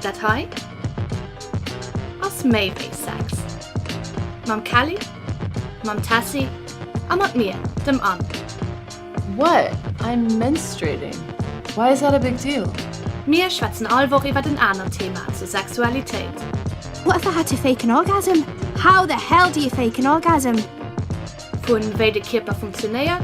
Dat hei ass méi wéi Sex. Mam Kelly, mam Tessy a mat mir, dem Anne. What? I'm menstruating. Why is that a big deal? Mir schwätzen all Woch iwwert en anert Thema zur Sexualitéit. What if I had to fake an orgasm? How the hell do you fake an orgasm? Vun wéi de Kierper funktionéiert,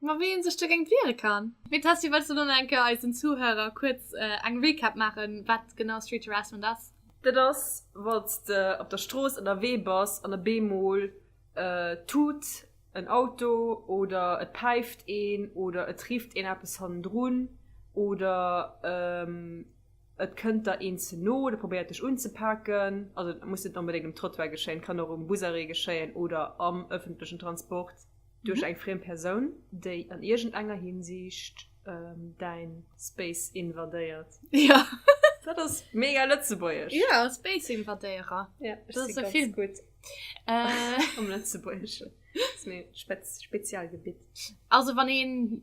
Ma wéi een sech dogéint wiere kann? Mee Tessy, wëlls du elo nach eng Kéier eisen Zuhörer kuerz eng Recap maachen, wat genau Street Harassment ass? Dat ass, wann s de op der Strooss ënnerwee bass an op eemol tut en Auto oder et päift een oder et rifft een eppes hannendrun oder et kënnt der een ze no oder probéiert dech unzepaken. Also et muss net onbedéngt um Trottoir geschéien, et kann och um Busarrêt geschéien oder am ëffentlechen Transport. Duerch eng friem Persoun, déi an iergendenger Hinsiicht däin Space invadéiert. Ja. Dat ass mega lëtzebuergesch. Ja, Space-Invadéierer. Ja, ech si ganz gutt. Dat ass e Film. Am Lëtzebuergeschen. Dat ass mäin Spezialgebitt. Also, wann een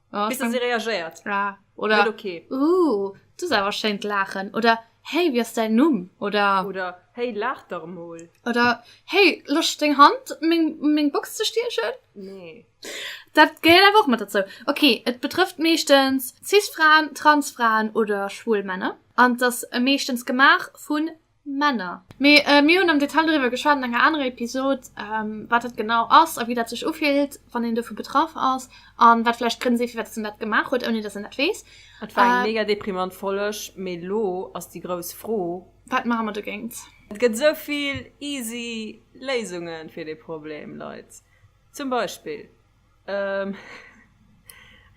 Oh, Bis sie reagiert. Ah, oder okay. Uh, du sollst aber schön lachen. Oder hey, wie ist dein Numm? Oder, oder hey, lach doch mal. Oder hey, lass deine Hand mein, mein Box zu stiechen. Nee. Das gehört einfach mit dazu. Okay, es betrifft meistens Cis-Frauen, Trans-Frauen oder schwul Männer. Und das meistens gemacht von Männer. Mee mir hunn am Detail doriwwer geschwat an enger anerer Episod, wat dat genau ass a wéi dat sech ufillt, wann een dovu betraff ass a wat vläicht d'Grënn sinn, firwat dass en dat gemaach huet, ouni dass en dat weess. Et war eng mega deprimant Folleg, mee elo ass déi grouss Fro. Wat maache mer dogéint? Et gëtt esou vill easy Léisunge fir dee Problem, Leit. Zum Beispill,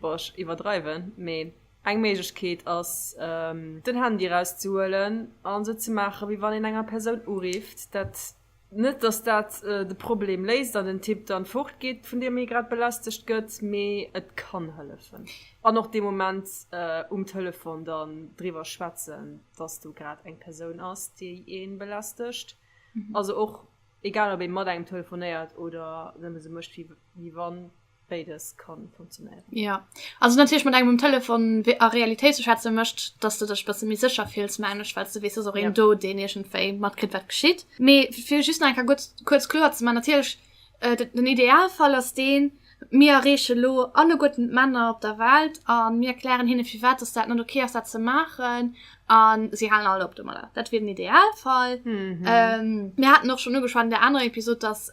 Bon, ech iwwerdreiwen, mee eng Méiglechkeet ass, den Handy erauszehuelen an esou ze maachen, wéi wann een enger Persoun urifft. Dat, net dass dat de Problem léist an den Typ dann fortgeet, vun deem hie grad belästegt gëtt, mee et kann hëllefen. An och dee Moment um Telefon dann driwwer schwätzen, dass do grad eng Persoun ass, déi ee belästegt. Also och. Egal op ee mat engem telefonéiert oder nëmme sou mécht wéi wann, béides ka funktionéieren. Jo, also natierlech mat engem um Telefon a Realitéit ze schwätze mécht, datt s de dech e bësse méi sécher fills, mengen ech, well s de weess, et ass och een do, deen iergendwéi matkritt, wat geschitt. Mee fir just nach eng Kéier kuerz kloer ze maachen, natierlech, den Idealfall ass deen, Mir erreeche lo alleguerten d'Männer op der Welt a mir erklären hinne firwat dass dat net ok ass dat ze maachen a si halen all op domadder. Dat wier den Idealfall. Mir haten och schonn ugeschwat an där anerer Episod, dass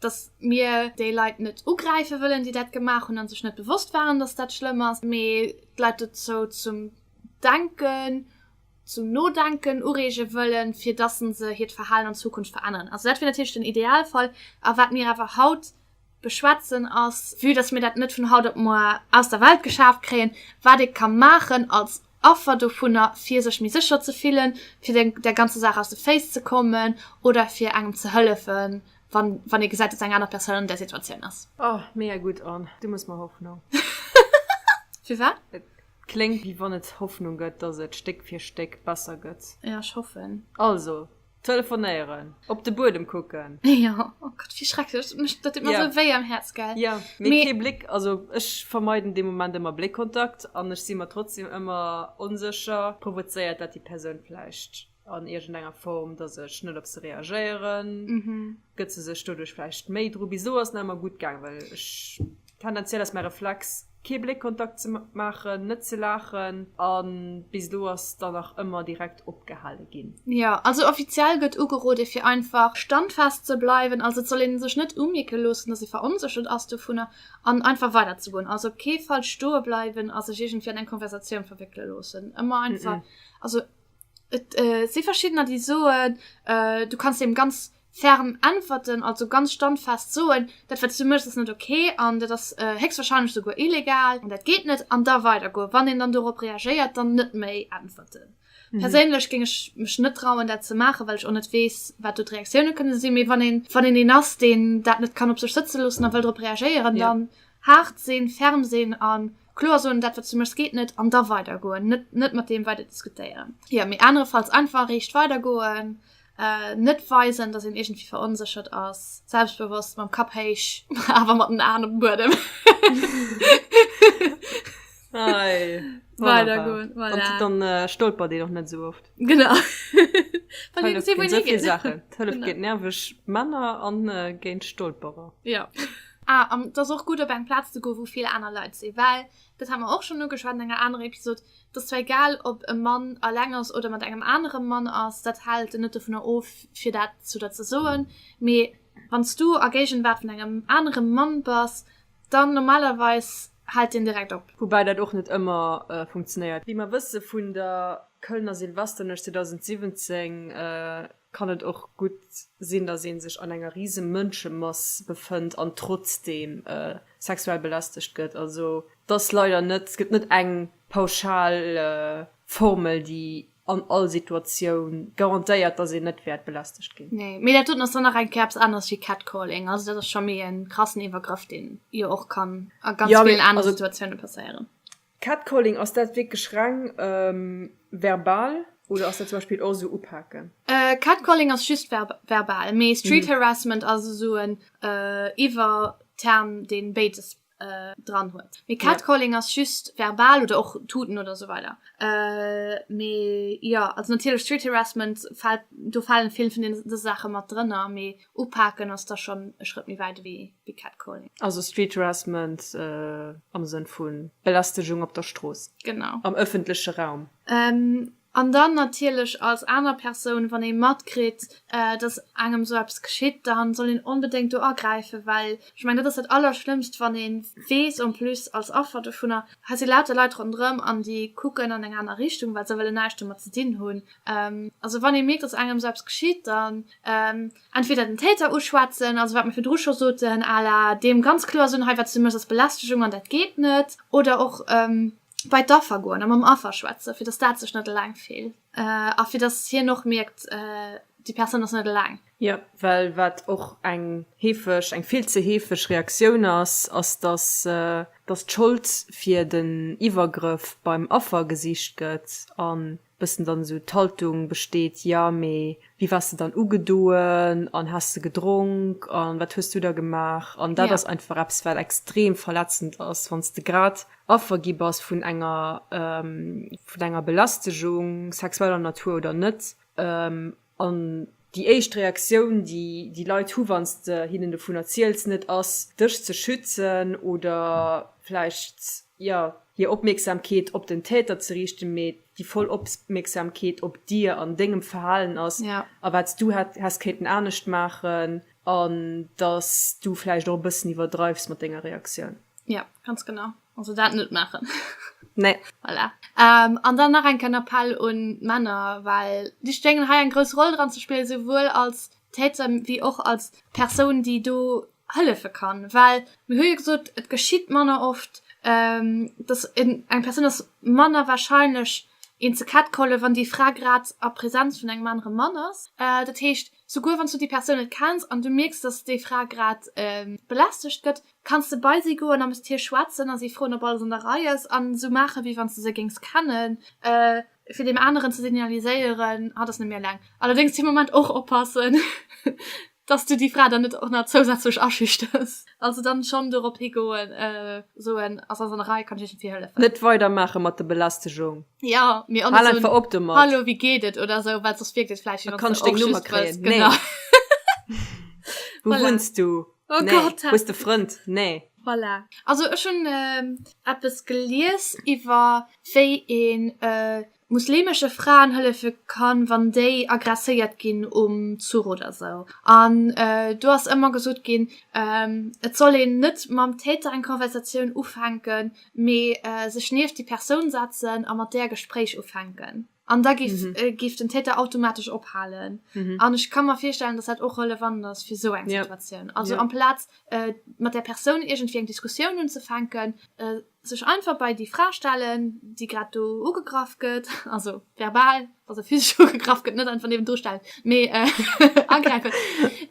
dass mir déi Leit net ugräife wëllen, déi dat gemaach hunn a sech net bewosst waren, dass dat schlëmm ass, mee d'Leit dozou zum Denken, zum Nodenken ureege wëllen, fir dass se hiert Verhalen an Zukunft veränneren. Also dat wier natierlech den Idealfall a wat mir awer haut beschwätzen ass, vue dass mir dat net vun haut op moar aus der Welt geschaaft kréien, wat ee ka maachen als Affer dovunner, fir sech méi sécher ze fillen, fir de der ganzer Saach aus de Féiss ze kommen oder fir engem ze hëllefen, wann wann ee gesäit, dass eng aner Persoun an där Situatioun ass. Oh, mega gutt an du muss mer Hoffnung. Firwat? Et kléngt wéi wann et Hoffnung gëtt, dass et Stéck fir Stéck besser gëtt. Jo, ech hoffen. Also. Telefonéieren. Op de Buedem kucken. Ja, oh Gott, wie schrecklech. Dat mécht, dat deet mer Ja. esou wéi am Häerz, gell? Ja, mee Mee- kee Bléck, also ech vermeiden dee Moment ëmmer Bléckkontakt an ech si mer trotzdem ëmmer onsécher, provozéiert dat déi Persoun vläicht an iergendenger Form, dass ech net op se reagéieren. Mhm. Gëtt se sech doduerch vläicht méi dru? Bis elo ass nach ëmmer gutt gaang, well ech tendenziell ass mäi Reflex, kee Bléckkontakt ze maachen, net ze laachen. A bis elo ass dann nach ëmmer direkt opgehale ginn. Jo, also offiziell gëtt ugerode fir einfach standfest ze bleiwen. Also et soll ee sech net umierke loossen, datt ee veronséchert ass dovunner an einfach weider ze goen. Also op kee Fall stoe bleiwen a sech iergendwéi an eng Konversatioun verwéckele loossen. Ëmmer einfach, also Et si verschiddener, déi soen, du kanns deem ganz ferm äntwerten, also ganz standfest soen, dat wat s du méchs ass net ok an dat ass héchstwarscheinlech souguer illegal an dat geet net, an da weidergoen. Wann een dann dorop reagéiert, dann net méi äntwerten. Perséinlech géing ech mech net trauen, dat ze maachen, well ech och net weess, wat do d'Reaktioune kënne sinn. Mee wann een, wann een een ass, deen dat net kann op sech sëtze loossen a wëll drop reagéieren, dann haart sinn, ferm sinn an. kloer soen, dat wat du méchs geet net an da weider goen, net net mat dem weider diskutéieren. Ja mir anerefalls einfach recht weider goen, äh, net weisen, dass en irgendwie verunsichert ass, selbstbewusst mam Kap héich, awer mat den Aen op dem Buedem. Ei, Weider goen, voilà. An voilà. dann äh, stolpert dee doch net so oft. Genau. Wann ihr Hëllef gesehen, wo géint ihr so vill hingeht. Sachen. Hëllef Genau. géint nerveg Männer an äh, géint Stolperer. Ja. Ah, an et ass och gutt, op eng Plaz ze goen, wou vill aner Leit sinn, well, dat hu mer och schonn ugeschwat an enger anerer Episod, et ass zwar egal, ob e Mann eleng ass oder mat engem anere Mann ass, dat hält en net dovunner of, fir dat zu der ze soen. Mee wann s du a Géigenwaart vun engem anere Mann bass, dann normalerweis hält deen direkt op. Woubäi dat och net ëmmer funktionéiert. Wéi mer wësse vun der Kölner Silvesternuecht 2017, Kann et och gutt sinn, dass ee sech an enger rise Mënschemass befënnt an trotzdeem sexuell belästegt gëtt? Also et ass leider net, et gëtt net eng pauschal Formel, déi an all Situatioun garantéiert, dass een net wäert belästegt ginn. Nee, mee dat doten ass dann nach eng Kéier eppes aneres wéi Catcalling. Also dat ass scho méi e krassen Iwwergrëff, deen jo och kann a ganz villen anere Situatioune passéieren. Catcalling, ass dat wierklech reng verbal oder ass dat zum Beispill och esou upaken? Catcalling ass just verbal, mee Street Harassment ass esou en Iwwerterm, deen béides dran huet. Mee Catcalling ass just verbal oder och tuten oder esou weider. Mee jo, also natierlech Street Harassment fält, do falen vill vun deene Saache mat drënner, mee upaken ass da schonn e Schrëtt méi wäit ewéi wéi Catcalling. Also Street Harassment am Sënn vu Belästegung op der Strooss, am ëffentleche Raum. An dann natierlech als aner Persoun, wann ee matkritt, datt engem esou eppes geschitt, da soll een onbedéngt do agräifen. Well ech mengen, dat ass dat Allerschlëmmst, wann ee weess, en plus als Affer dovunner, hei si lauter Leit ronderëm an déi kucken an eng aner Richtung, well se wëllen näischt domat ze dinn hunn. Also wann ee mierkt, datt engem esou eppes geschitt, da Entweder den Täter uschwätzen, also wat mir virdru scho soten, à la deem ganz kloer soen, hei wat s du méchs ass Belästegung an dat geet net. Oder och bei d'Affer goen a mam Affer schwätzen, fir datt dat sech net eleng fillt a fir datt hien och mierkt, déi Persoun ass net eleng. Jo, well wat och eng heefeg, eng vill ze heefeg Reaktioun ass, ass datt, datt d'Schold fir den Iwwergrëff beim Affer gesicht gëtt an Bëssen dann esou d'Haltung besteet, jo, mee wéi waars de dann ugedoen an has de gedronk an wat hues du da gemaach? An dat ass einfach eppes, wat extrem verletzend ass, wann s de grad Affer gi bass vun enger, vun enger Belästegung, sexueller Natur oder net. An déi éischt Reaktioun, déi déi Leit hu wann s de hinnen dovun erziels, net ass, dech ze schützen oder vläicht, jo, hir Opmierksamkeet op den Täter ze riichten, mee déi voll Opmierksamkeet op dir an dengem Verhalen ass a wat s du häss kéinten anescht maachen an dass du vläicht och e bëssen iwwerdreifs mat denger Reaktioun. Jo, ganz genau. Also dat net machen. Nee. Voilà. Ähm, an dann nach eng kann Appell un Männer, well die stehen hei eng groß Rolle dran zu spielen, sowohl als Täter wie och als Persoun, die do hëllefe kann. Well mir hu gesot, et geschitt manner oft ähm, dass in eng Person ass manner wahrscheinlech een ze Kat kolle, wann die Fra grad a Präsenz vun engem anere Mann ass. Äh, dat heescht, souguer wann du die Person net kenns an du mierks, dass déi Fra grad ähm, belästegt gëtt, Kanns de bei si goen a mat hir schwätzen a si froen, ob alles an der Rei ass an esou maachen, wéi wann s de se géings kennen, fir deem aneren ze signaliséieren, Hatt ass net méi eleng. Allerdéngs dee Moment och oppassen, dass s du déi Fra dann net och nach zousätzlech aschüchters. Also dann schonn dorop higoen, soen, Ass alles an der Rei, kann ech Iech iergendwéi hëllefen? Net weidermaache mat der Belästegung. Jo, mee och net soen, Hallo, wéi geet et? oder esou, well soss wierkt et vläicht, wéi wann s de och just wëlls. Genau. Kann ech deng Nummer kréien? Nee. Wou wunns du? Oh nee. Gott, Hues de Frënd? Nee. Voilà. Also ech hun ähm, Appes gelies iwwer wéi een äh, muslimesche Fraen hëllefe kann, wann déi agresséiert ginn um Zuch oder sou. An äh, du ass ëmmer gesot ginn, ähm, et soll een net mam Täter eng Konversatioun ufänken, mee äh, sech nieft déi Persoun setzen a mat där Gespréich ufänken. An da gif, mhm. äh, gif den Täter automatesch ophalen. Mhm. An ich kann mir feststellen, dass dat och relevant ass fir so eng ja. Situation. Also ja. am Platz äh, mat der Person irgendwie eng Diskussion unzufänken, äh, sech einfach bei die Fra stellen, die grad do ugegraff gëtt, also verbal, also physisch ugegraff gëtt, net einfach neben durchstellen, me äh, angreifen.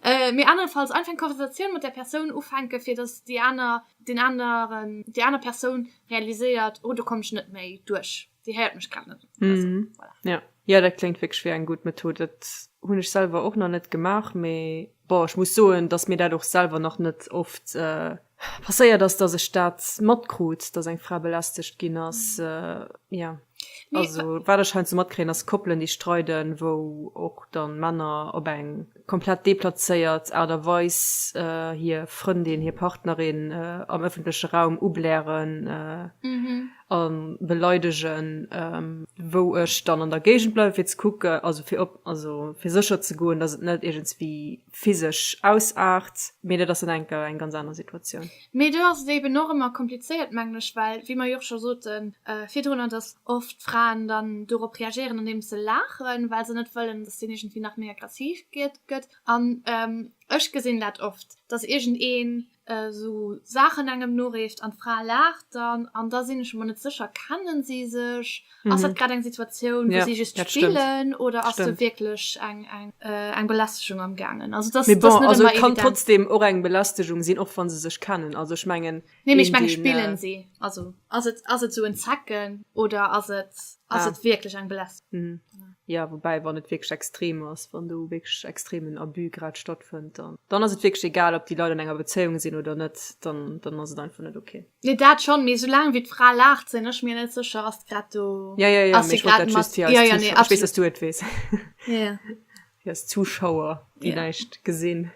äh, mir andernfalls einfach Konversation mit der Person ufänken, fir dass die aner den anderen, die aner Person realisiert, oh du kommst net méi durch. Dir héiert mech grad net. Also, mm. voilà. Ja. Ja, dat kléngt wierklech wéi eng gutt Method. Dat hunn ech selwer och nach net gemaach, mee bon, ech muss soen, datt mir dat och selwer nach net oft äh, passéiert ass, datt ech dat matkrut, datt eng Fra belästegt ginn ass. Mm. Äh, ja. Nee, also, wat ech heiansdo matkréien, ass Koppelen, déi streiden, wou och dann Männer op eng komplett deplazéiert Aart a Weis äh, hir Frëndin, hir Partnerin äh, am ëffentleche Raum ublären. Äh, mm -hmm. a beleidegen, wou ech dann an der Géigend bleiwen, fir ze kucke, also fir op, also fir sécher ze goen, dass et net iergendswéi physesch ausaart. Mee dat ass dann enker eng ganz aner Situatioun. Mee do ass et eben och ëmmer komplizéiert, mengen ech, well, wéi mer jo och scho soten virdrunner, dass oft Fraen dann dorop reagéieren, andeems se laachen, well se net wëllen, dass deen iergendwéi nach méi aggressiv gëtt. An ech gesinn dat oft, dass iergendeen esou Saachen engem noreecht an d'Fra laacht dann an da sinn ech mer net sécher, kennen si sech, ass dat grad eng Situatioun, wou si just spillen oder ass do wierklech eng Belästegung am gaangen? Also dat ass net ëmmer evident. Bon, also et kann trotzdem och eng Belästegung sinn, och wa se sech kennen. Also ech mengen. Nee, mee ech mengen, spillen si? Also ass et esou en Zecken oder ass et wierklech eng Belästegung? Jo, woubäi wann et wierklech extrem ass, wann do wierklech extremen Abus grad stattfënnt, dann dann ass et wierklech egal, ob déi Leit an enger Bezéiung sinn oder net, dann dann ass et einfach net ok. Nee dat schonn, mee soulaang wéi d'Fra laacht sinn ech mir net sécher, ass grad do. Jo, jo, jo, mee ech wollt dat just fir eis Zuschauer, ech weess, datt s du et weess. Yes, Zuschauer, déi yeah. näischt gesinn.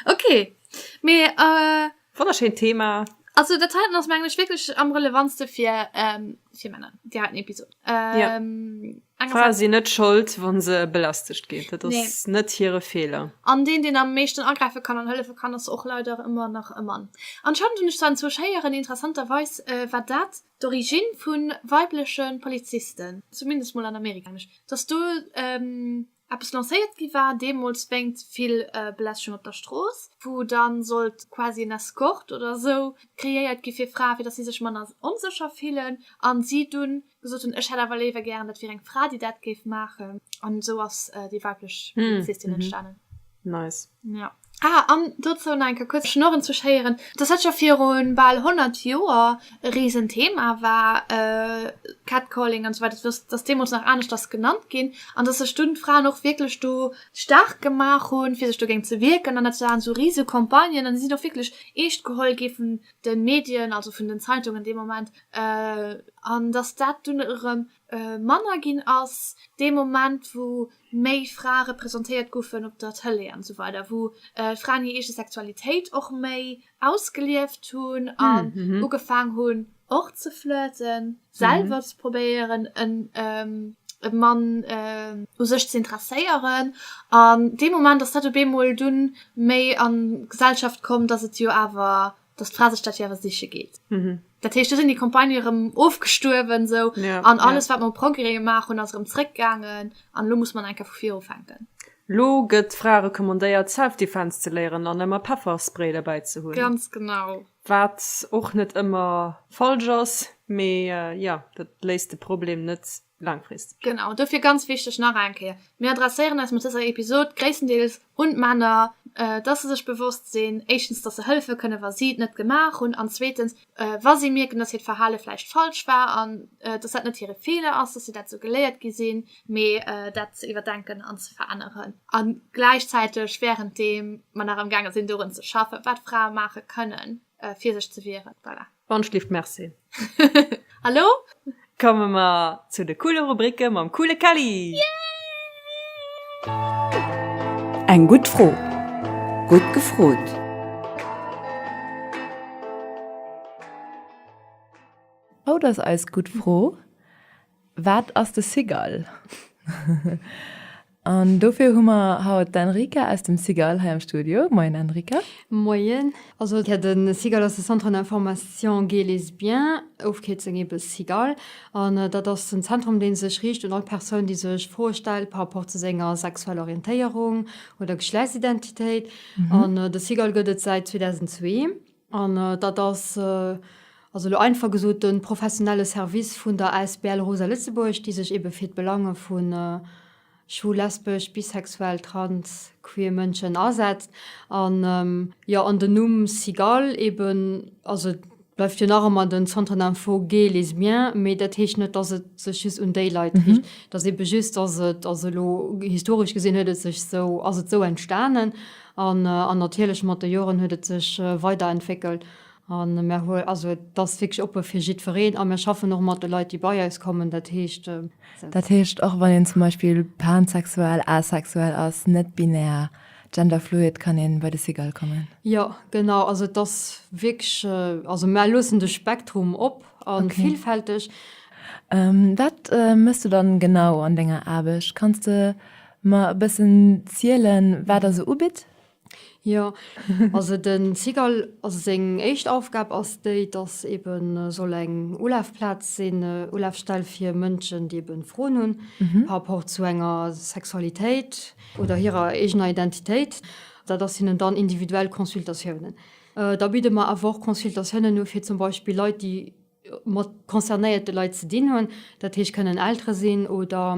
ok, mee. Äh, Wonnerschéint Thema. Also der Titan ass menglech wkeg am relevantste fir ähm, fir Männer Di hat Episode ähm, ja. si net schold wann se belastigt geht dat nee. net hire Fehler an den den am meeschten angreife kann an hëllefe kann ass och leider immer nach e Mann anscheinend hun ich dann zu scheieren interessanterweis äh, wat dat D'Origine vu weibleche Polizisten, zumindest mol an Amerika, mengen ech, datt do eppes lancéiert gi war deemools wéingt vill Belästegung op der Strooss, wou da sollt quasi en Escort oder esou kreéiert gi fir Frae, fir datt si sech manner onsécher fillen a si dunn gesot hunn, ech hätt awer léiwer gären, dat wier eng Fra, déi dat géif maachen. An esou ass déi weiblech Polizistin entstanen. Nice. Ah, an dozou nach eng Kéier kuerz Schnurren ze schéieren, dass dat scho viru bal 100 Joer e Riesenthema war, Catcalling an esou weider, dass dass deemools nach anescht ass genannt ginn an dass sech dunn d'Fraen och wierklech do staark gemaach hunn, fir sech dogéint ze wierken an dat waren esou Riesecampagnen an déi sinn och wierklech eescht geholl gi vun de Medien, also vun den Zeitungen dee Moment, an dass dat dunn erëm manner ginn ass dee Moment, wou méi Frae representéiert goufen op der Tëlee an esou weider, wou Fraen hir eege Sexualitéit och méi ausgelieft hunn an ugefaang hunn och ze flirten, selwer ze probéieren e Mann u sech ze interesséieren an dee Moment ass dat op eemol dunn méi an d'Gesellschaft komm, dass et jo awer dass d'Fra sech dat jo awer siche geet. Mhm. Dat heescht, do sinn déi Campagnë erëm ofgestuerwen sou Ja, an alles, ja. wat mer um Progrès gemaach hunn, ass erëm zréckgaangen an elo muss mer eng Kéier vu vir ufänken. Lo gëtt d'Frae recommandéiert, Self-Defense ze léieren an ëmmer Pefferspray derbäi ze hunn. Ganz genau. Wat och net ëmmer falsch ass, mee, jo, dat léist de Problem net Langfrist. Genau, dofir ganz wichteg nach eng Kéier, Mir adresséieren eis mat dëser Episod gréisstendeels un d'Männer, dass se sech bewosst sinn, éischtens, dass se hëllefe kënnen, wa si et net gemaach hunn, an zweetens, wa si mierken, dass hiert Verhale vläicht falsch war an dass dat net hire Feeler ass, dass si dat esou geléiert gi sinn, mee dat ze iwwerdenken an ze veränneren. A gläichzäiteg wärenddeem mer nach amgaange sinn, dorun ze schaffen, wat Frae maache kënnen, fir sech ze wieren. Voilà. Wandschlift merci a lo komme mer zu de coole Rubricke mam coole Kelly! Yeah! Eng gutt Fro, gutt gefrot! Haut ass eis gutt Fro. Wat ass de Cigale? An dofir hu mer haut d'Enrica aus dem Cigale hei am Studio. Moien Enrica. Moien. Also jo, de Cigale ass de Centre d'information Gays Lesbiens, Ofkierzung ebe Cigale. An dat ass en Zentrum, dee sech riicht un all Persoun, déi sech Froe stellt par rapport zu senger sexueller Orientéierung oder Geschlechtsidentitéit. An de Cigale gëtt et säit 2002. An dat ass, also elo einfach gesot, de professionelle Service vun der Asbl Rosa Lëtzebuerg, déi sech eebe fir d'Belange vu schwul, lesbesch, bisexuell, trans, queer Mënschen asetzt. An, jo, an den Numm Cigale eeben, also et bleift jo nach ëmmer den Centre d'Info Gay, Lesbien, mee dat heescht net, dass et sech just un déi Leit riicht. Et ass eebe just, dass et, also elo historesch gesinn huet et sech esou, ass et esou entstanen. An an natierlech mat de Joren huet et sech weiderentwéckelt an mär hu, also et ass wierklech oppe fir jiddwereen a mär schaffen och mat de Leit, déi bei eis kommen, dat heescht. Dat heescht, och wann een zum Beispill pansexuell, asexuell ass, net-binär, genderfluid, kann ee bei de CIGAL kommen? Jo, genau. Also et ass wierklech, also mär loossen de Spektrum op a villfälteg. Wat méchs du dann genau an denger Aarbecht? Kanns de Mer e bëssen zielen, wat Der sou ubitt? Jo, also den CIGL, also seng éischt Aufgab ass déi, dass ebe soll eng Ulafplaz sinn, Ulafstell fir Mënschen, déi ebe Froen hunn par rapport zu enger Sexualitéit oder hirer eegener Identitéit. Dat ass hinnen dann individuell Consultatiounen. Da bidde mer awer och Consultatiounen u fir zum Beispill Leit, déi mat concernéierte Leit ze dinn hunn, dat heescht kënnen Eltere sinn oder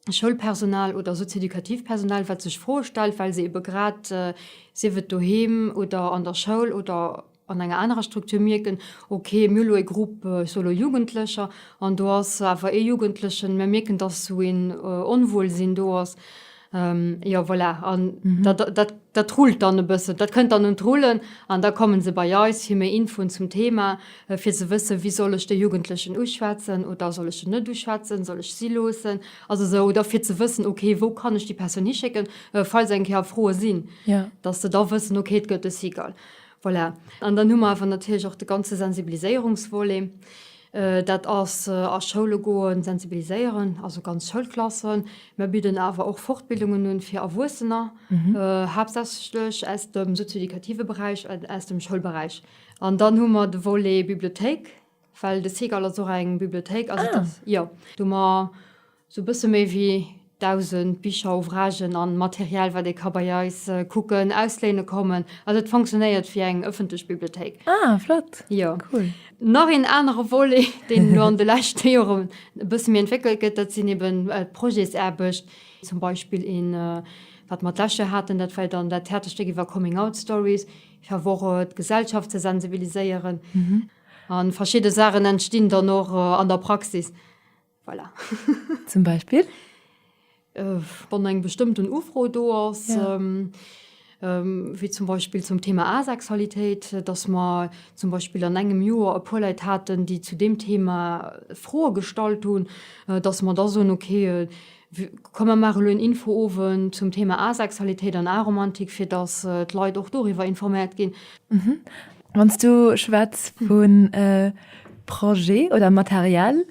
Schoulpersonal oder socio-educativ Personal, wat sech Froe stellt, well se ebe grad, sief et doheem oder an der Schoul oder an enger anerer Struktur, mierken, ok, mir hu elo e Grupp solo Jugendlecher an do ass awer ee Jugendlechen, mir mierken, datt esou een Onwuelsinn do ass. Jo, voilà, an dat rullt dann e bëssen, dat kënnt dann un d'Rullen an da komme se bei eis fir méi Infoen zum Thema. fir ze wëssen, wéi soll ech de Jugendlechen uschwätzen oder soll ech en net uschwätzen, soll ech si loossen, also esou, oder fir ze wëssen, okay, wou kann ech déi Persoun hischécken, falls eng Kéier Froe sinn, dass se da wëssen, okay, et gëtt e SIGAL. Voilà. An dann hu mer awer natierlech och de ganze Sensibiliséierungsvolet. Dat ass a Schoule goen, sensibiliséieren, also ganz Schoulklassen. Mer bidden awer och Fortbildungen un fir Erwuessener, haaptsächlech aus dem sozio-educative Beräich, aus dem Schoulberäich. An dann hu mer de Volet Bibliothéik, well de Seagull ass och eng Bibliothéik. Also dat, jo, do hu mer sou e bësse méi wéi 1.000 Bicher, Ouvragen a Material, wat ee ka bei eis kucken, ausléine kommen. Also et fonctionnéiert wéi eng ëffentlech Bibliothéik. Ah, flott! Jo. Cool. Nach een anere Volet, deen elo an de leschte Joren e bësse méi entwéckelt gëtt, dat sinn eben d'Projetsaarbecht. Zum Beispill een, wat mer d'lescht Joer haten, dat war dann dat Theaterstéck iwwer Coming-out-Stories. fir awer och d'Gesellschaft ze sensibiliséieren. A verschidde Saachen entstinn dann och an der Praxis. Voilà. Zum Beispill? Äh, wann eng bestëmmten Ufro do ass. Ja. Ähm, ähm, wéi zum Beispill zum Thema Asexualitéit, äh, dass mer zum Beispill an engem Joer e puer Leit haten, déi zu dem Thema Froe gestallt hunn, äh, dass mer da soen, okay, äh, Komm mer maachen elo en Info-Owend zum Thema Asexualitéit an Aromantik, fir dass d'Leit och doriwwer informéiert ginn. Wann s du schwätz vu Projet oder Material,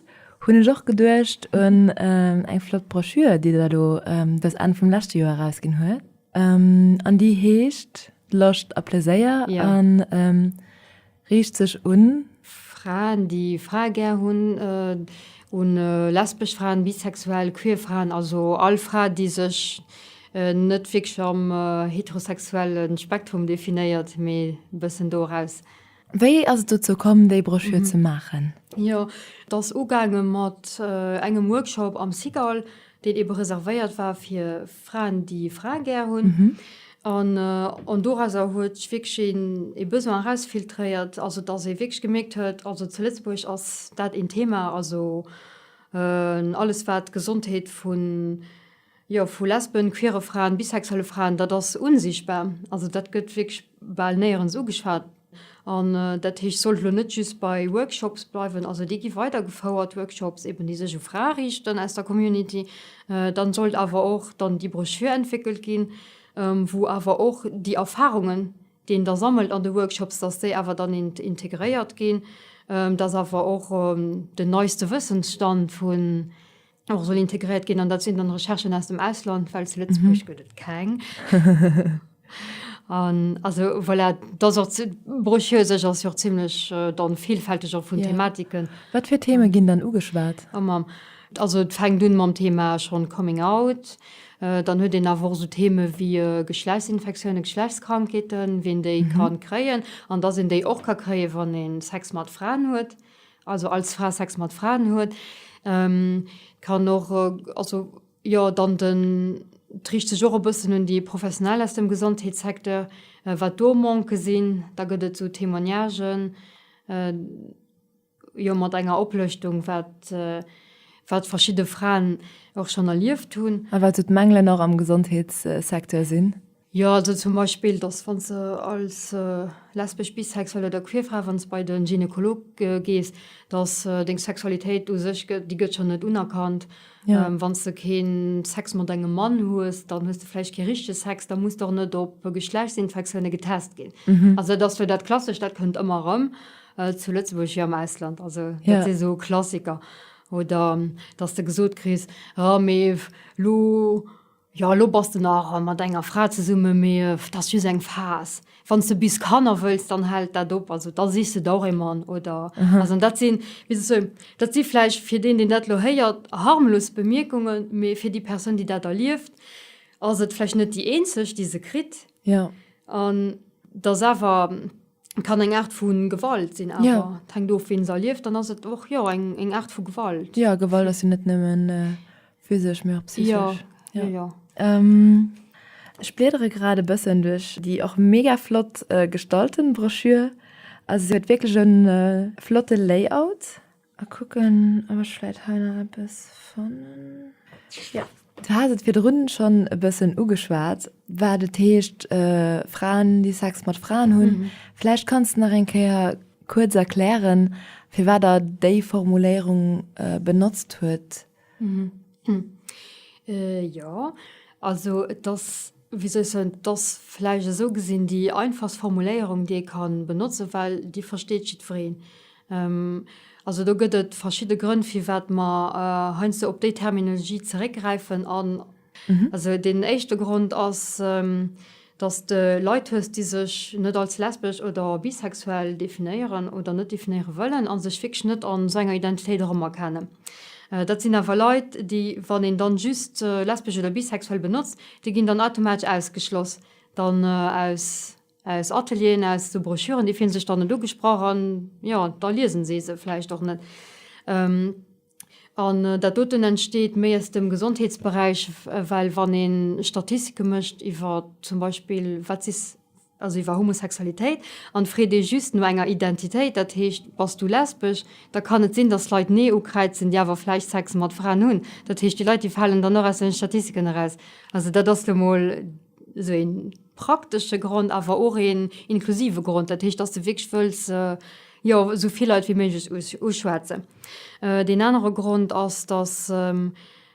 hunn ech och geduecht un eng flott Broschür, déi der elo dës Enn vum leschte Joer erausginn huet. An déi heescht Loscht a Pleséier. Riicht sech un. Fraen, déi Frae gär hunn, un lesbesch Fraen, bisexuell, queer Fraen, also all Fra, déi sech net wierklech am heterosexuelle Spektrum definéiert, mee e bëssen do eraus. Wéi ass et dozou komm, déi Broschür ze maachen? Jo, et ass ugaange mat engem Workshop am Cigale. deen ebe reservéiert war fir Fraen, déi Frae gär hunn, an dorauser huet sech wierklech een e Besoin erausfiltréiert, also datt ee wierklech gemierkt huet, also zu Lëtzebuerg ass dat een Thema, also alles wat d'Gesondheet vu, jo, vu Lesben, queere Fraen, bisexuelle Fraen, dat ass unsichtbar, also dat gëtt wierklech bal néierens ugeschwat. An dat heescht, sollt elo net just bei Workshops bleiwen, also déi gi weider gefouert, Workshops eben, déi sech u Frae riichten aus der Community, dann sollt awer och dann déi Broschür entwéckelt ginn, wou awer och déi Erfahrungen, déi een da sammelt an de Workshops, dass déi awer dann integréiert ginn, dass awer och den neiste Wëssensstand vun och soll integréiert ginn an dat sinn dann Recherchen aus dem Ausland, well zu Lëtzebuerg gëtt et keng. An also voilà, dat ass och zi-, d'Brochure u sech ass jo och zimmlech dann vielfälteg och vun Thematiken. Ja. Wat fir Theme ginn dann ugeschwat? Oh Mamm. Also et fänkt un mam Thema schonn Coming Out, dann huet een awer och esou Theme wéi Geschlechtsinfektiounen, Geschlechtskrankheeten, wien déi kann kréien an dass een déi och ka kréien, wann ee Sex mat Fraen huet. also als Fra Sex mat Fraen huet, kann och, also jo, dann den, et riicht sech och e bëssen un déi Professionell aus dem Gesondheetssecteur, wat do Manque sinn. Da gëtt et esou Témoignagen, jo, mat enger Oplëschtung, wat, wat verschidde Fraen och schonn erlieft hunn. A wat esou d'Mängelen och am Gesondheetssecteur sinn. Jo, also zum Beispill, dass wann s de als lesbesch, bisexuell oder queer Fra, wann s de bei de Gynekolog gees, dass deng Sexualitéit u sech, déi gëtt schonn net unerkannt. Wann s de keen Sex mat engem Mann hues, dann hues de vläicht kee richtege Sex, da muss de och net op Geschlechtsinfektioune getest ginn. Also dat ass sou dat Klassescht, dat kënnt ëmmer erëm, zu Lëtzebuerg wéi am Ausland. Also dat si sou Klassiker. Oder dass de gesot kriss, Ah, mee elo Jo, elo bass de nach mat enger Fra zesummen, mee dat ass just eng Phas. Wann s de bis Kanner wëlls, dann hält dat op. Also da sichs de der och ee Mann, oder? Also an dat sinn, wéi soll ech soen, dat si vläicht fir deen, deen dat elo héiert, harmlos Bemierkungen, mee fir déi Persoun, déi dat erlieft, ass et vläicht net déi eenzeg, déi se kritt. An et ass awer. Kann eng Aart vu Gewalt sinn awer. Ja. Et hänkt of, wien se erlieft. Dann ass et och, jo, eng, eng Aart vu Gewalt. Ja, Gewalt ass jo net nëmmen physesch, mee och psysesch. Ja, jo, jo. Ech bliedere grad e bëssen duerch déi och mega flott gestalten Broschür. Also se huet wierklech e flotte Layout. A kucken op ech vläit hei nach eppes fannen. Jo, du has et virdrun schonn e bëssen ugeschwat, wat et heescht Fraen déi Sex mat Fraen hunn. Vläicht kanns de nach eng Kéier kuerz erklären, firwat der déi Formuléierung benotzt huet. Jo, also et ass, wéi soll ech soen, et ass vläicht esou gesinn déi einfachst Formuléierung, déi ee ka benotzen, well déi versteet jiddwereen. Also do gëtt et verschidde Grënn, firwat mer heiansdo op déi Terminologie zeréckgräifen an, Also deen éischte Grond ass, dass de Leit hues, déi sech net als lesbesch oder bisexuell definéieren oder net definéiere wëllen a sech wierklech net an esou enger Identitéit erëmerkenne. Dat sinn awer Leit, déi, wann een dann just lesbesch oder bisexuell benotzt, déi ginn dann automatesch ausgeschloss dann aus aus Atelieren, aus esou Broschüren. Déi fillen sech dann net ugesprach an, jo, da liesen si se vläicht och net. An dat doten entsteet méi aus dem Gesondheetsberäich, well wann ee Statistike mécht iwwer zum Beispill wat si, also iwwer Homosexualitéit, an freet ee just no enger Identitéit, dat heescht bass du lesbesch, da kann et sinn, datt Leit Nee ukräizen, déi awer vläicht Sex mat Fraen hunn. Dat heescht, déi Leit, déi falen dann och aus den Statistiken eraus. Also dat ass lo mol. esou ee praktesche Grond, awer och een inklusive Grond, dat heescht, dass de wierklech wëlls, jo, esou vill Leit wéi méiglech uschwätzen. Deen anere Grond ass, dass,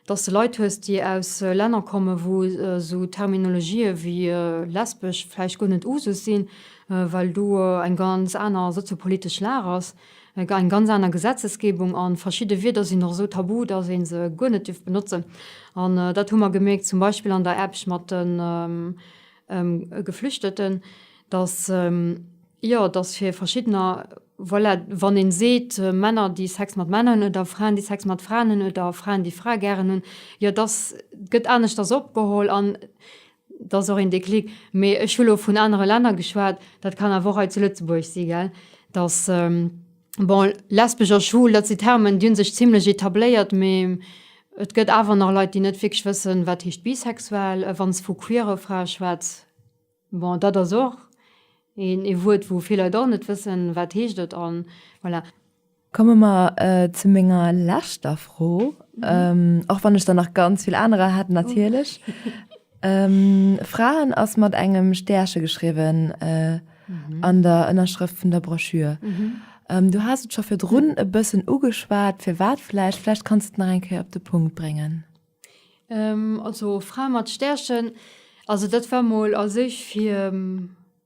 dass de Leit hues, déi aus Länner kommen, wou esou Terminologië wéi lesbesch vläicht guer net usus sinn, well do eng ganz aner soziopolitesch Lag ass. eng ganz aner Gesetzesgebung an verschidde Wierder sinn och esou tabu, dass een se guer net dierf benotzen an dat hu mer gemierkt zum Beispill an der Eppsch mat den Geflüchteten, dass, jo, dass fir verschiddener, voilà, wann een seet Männer déi Sex mat Männer hunn oder Fraen déi Sex mat Fraen hunn oder Fraen déi Frae gären hunn, jo, dass gëtt aneschters opgeholl an, Dat ass och een Déclic. Mee ech hu lo vun anere Länner geschwat, dat kann awer och hei zu Lëtzebuerg si, gell, dass, bon, lesbesch a schwul, dat si Termen, déi hu sech zimlech etabléiert, mee et gëtt awer nach Leit, déi net wierklech wëssen, wat heescht bisexuell, wann s vu queere Frae schwätz. Bon, dat ass och een Wuert, wou vill Leit och net wëssen, wat heescht et, an voilà. Komme mer zu menger leschter Fro, och wann ech der nach ganz vill anerer hätt natierlech. Fraen ass mat engem Stärche geschriwwen an der Ënnerschrëft vun der Broschür. Du has et scho virdrun e bëssen ugeschwat, firwat vläicht? Vläicht kanns du et nach eng Kéier op de Punkt bréngen. Also Frae mat Stärchen, also dat war mol a sech fir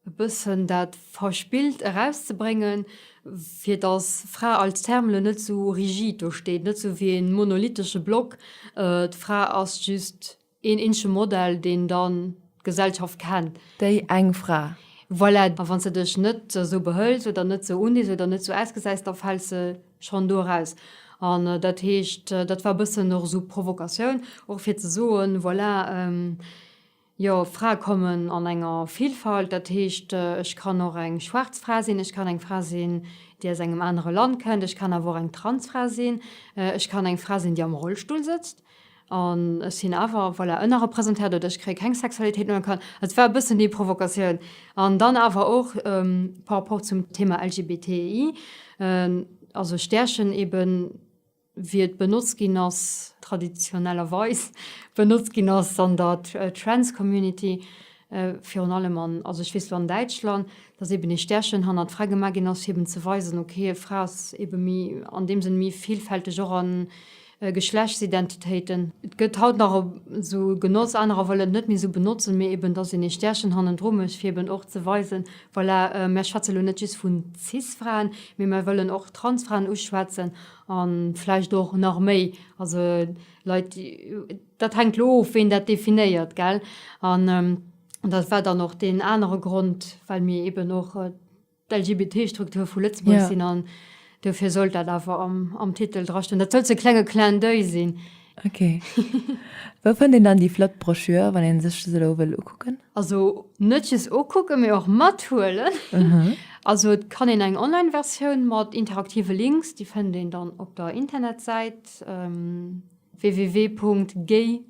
e bëssen dat Verspillt erauszebréngen, fir datt Fra als Terme net esou rigid do steet, net esou wéi e monolithesche Block, d'Fra ass just een eenzege Modell, deen dann d'Gesellschaft kennt. Déi eng Fra. Voilà, a wann s de dech net esou behëls oder net esou unees oder net esou ausgesäis, da fäls de schonn do eraus. An dat heescht, dat war e bëssen och esou Provokatioun, och fir ze soen, voilà, Jo, Frae kommen an enger Villfalt. Dat heescht, ech kann och eng schwaarz Fra sinn, ech kann eng Fra sinn, déi aus engem anere Land kennt, ech kann awer och eng Transfra sinn, ech kann eng Fra sinn, déi am Rollstull sëtzt an ech sinn awer, voilà, ënnerrepresentéiert oder ech kréie keng Sexualitéit unerkannt. Also, et war e bëssen déi Provokatioun. An dann awer och par rapport zum Thema LGBTI, also Stärchen eben. wéi et benotzt ginn ass, traditionellerweis benotzt ginn ass an der Trans-Community, virun allem an, also ech weess lo an Däitschland, dass eeben ee Stärchen hannert d'Fra gemaach ginn ass, fir eeben ze weisen, okay, d'Fra ass eebe méi, an deem Sënn méi villfälteg och a Geschlechtsidentitéiten. Et gëtt haut nach esou genotzt, anerer wëllen et net méi esou benotzen, mee eeben, dass een ee Stärchen hannendru mécht, fir eeben och ze weisen, voilà, mär schwätze lo net just vun Cis-Fraen, mee mär wëllen och Trans-Fraen uschwätzen. A vläicht och nach méi. Also Leit, dat hänkt elo of, ween dat definéiert, gell. An dat war dann och deen anere Grond, well mir eeben och d'LGBTI-Struktur vu Lëtzebuerg sinn. An dofir sollt dat awer am Titel drastoen. Dat sollt sou e klenge Clin d'oeil sinn. Ok. Wou fënnt een dann déi flott Broschür, wann ee sech dës elo wëll ukucken? Also net just ukucken, mee och mathuelen. Also et kann een eng Online-Versioun mat interaktive Links, déi fënnt een dann op der Internetsäit www.gay.lu.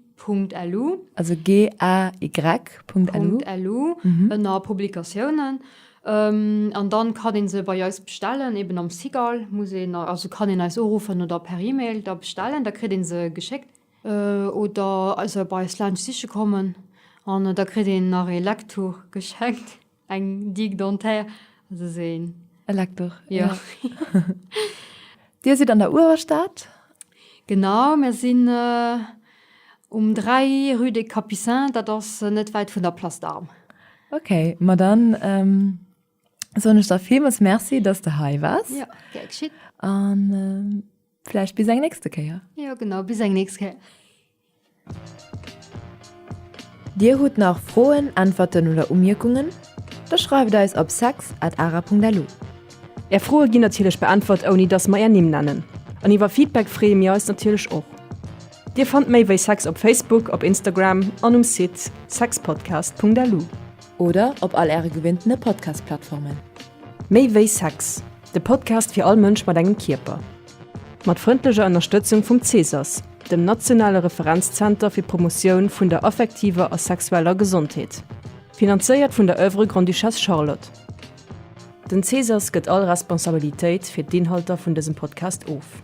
Also GAY.lu. Ënner Publikatiounen. An dann kann ee se bei eis bestellen, eben am Cigale muss een, also kann een eis uruffen oder per Email da bestellen, da kritt ee se geschéckt. Oder also bei eis laanscht siche kommen an da kritt een nach ee Lektor geschenkt, eng Digue dentaire, also sou een. E Lektor, jo. Dir sidd an der Uewerstad? Genau, mir sinn um 3 rue des Capucins, dat ass net wäit vun der Place d'Armes. Okay, ma dann. Soen ech der Filmes Merci, dass de hei wars. Ja, gär geschitt. An ähm, vielleicht bis eng nächste Kéier. Ja genau bis eng nächste Kéier. Dir hutt nach Froen, Äntwerten oder Umierkungen? Da schreift eis op sex@ara.lu. Är Froe ginn natierlech beäntwert ouni dass mer är Nimm nennen. An iwwer Feedback freeë mir eis natierlech och. Dir fannt méi wéi Sex op Facebook, op Instagram an um Site sexpodcast.lu. Oder op all Äre gewinntene Podcast-Plattformen. Méi wéi Sex, de Podcast fir all Mënsch mat engem Kierper. Mat frëndlecher Ënnerstëtzung vum CSAS, dem nationale Referenzzenter fir d'Promotioun vun der affektiver a sexueller Gesondheet. Finanzéiert vun der Oeuvre Grande-Duchesse Charlotte. Den CSAS gëtt all Responsabilitéit fir d'Inhalter vun dësem Podcast of.